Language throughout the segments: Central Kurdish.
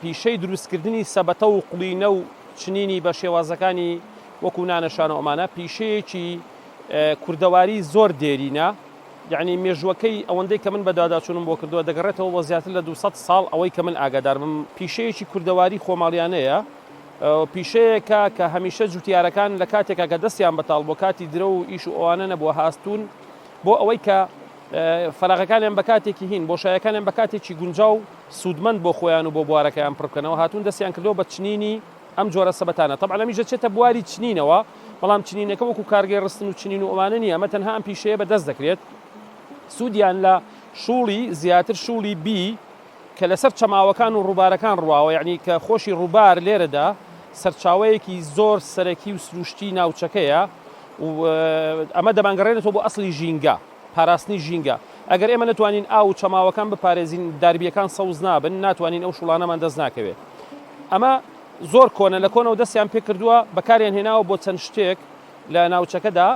پیشەی دروستکردنی سەبەتە و قڵینە و چنینی بە شێوازەکانی وەکو نانە شانۆ ئەمانە پیشەیەکی کوردەواری زۆر دێرینە یعنی مێژوەکەی ئەوەندەی کە من بەداداچوونم بۆ کردووە دەگەڕێتەوە بۆ زیاتر لە 200 ساڵ ئەوەی کە من ئاگادارمم پیشەیەکی کوردەواری خۆماڵیانەیە پیشەیەکە کە هەمیشە جوتیارەکان لە کاتێکا کە دەستیان بەتاڵ بۆ کاتی درە و ئیش و ئەوانە نەبووە هاستون بۆ ئەوەی کە فەراغەکانیان بە کاتێکی هین، بۆشایەکانیان بە کاتێکی گونجاو و سوودمەند بۆ خۆیان و بۆ بوارەکەیان پڕ بکەنەوە، هاتوون دەستیان کردووە بە چنینی ئەم جۆرە سەبەتانە. تەبعەن ئەمیش دەچێتە بواری چنینەوە، بەڵام چنینەکە وەکو کارگەی ڕستن و چنین و ئەوانە نییە، ئەمە تەنها ئەم پیشەیە بەدەست دەکرێت. سوودیان لە شووڵی زیاتر شووڵی بی، کە لەسەر چەماوەکان و ڕووبارەکان ڕواوە، یەعنی کە خۆشی ڕووبار لێرەدا سەرچاوەیەکی زۆر سەرەکی و سروشتی ناوچەکەیە و ئەمە دەمانگەڕێنێتەوە بۆ ئەسڵی ژینگە، پاراستنی ژینگە. ئەگەر ئێمە نەتوانین ئاو و چەماوەکان بپارێزین، داربییەکان سەوز نابن، ناتوانین ئەو شوڵانەمان دەست ناکەوێت. ئەمە زۆر کۆنە، لە کۆنەوە دەستیان پێکردووە، بەکاریان هێناوە بۆ چەند شتێک لە ناوچەکەدا.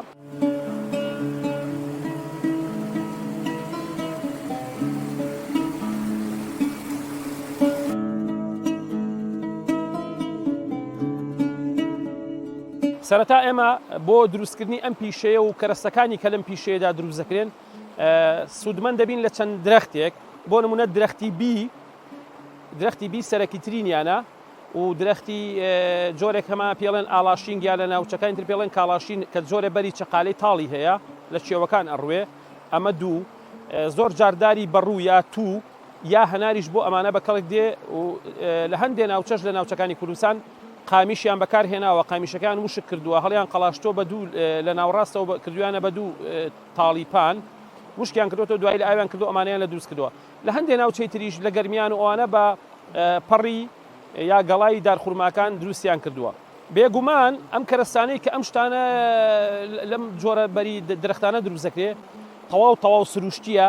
سەرەتا ئێمە بۆ دروستکردنی ئەم پیشەیە و کەرەستەکانی کە لەم پیشەیەدا دروست دەکرێن سوودمەن دەبین لە چەند درەختێک بۆ نمونە درەختی بی درەختی بی سەرەکیترینیانە و درەختی جۆرێک هەمان پێڵێن ئاڵاشین گیا لە ناوچەکانی تر پێڵێن کاڵاشین کە جۆرە بەری چەقالەی تاڵی هەیە لە چێوەکان ئەڕوێ ئەمە دوو زۆر جارداری بەڕوو یا تو یا هەناریش بۆ ئەمانە بە کەڵک دێ و لە هەندێ ناوچەش لە ناوچەکانی کوردستان قامیشیان بەکار هێناوە قامیشەکان وشک کردووە هەڵیان قەلاشتۆ بە دوو لە ناوڕاستەوە کردویانە بە دوو تاڵیپان وشکیان کردوەوە دوای لە ئاویان کردو ئەمانیان لە دروست کردووە لە هەندێ ناوچەی تریش لە گەرمیان و ئەوانە بە پەڕی یا گەڵای دارخورماکان دروستیان کردووە. بێگومان ئەم کەرەستانەی کە ئەم شتانە لەم جۆرە بەری درەختانە دروست دەکرێ تەواو تەواو سروشتیە.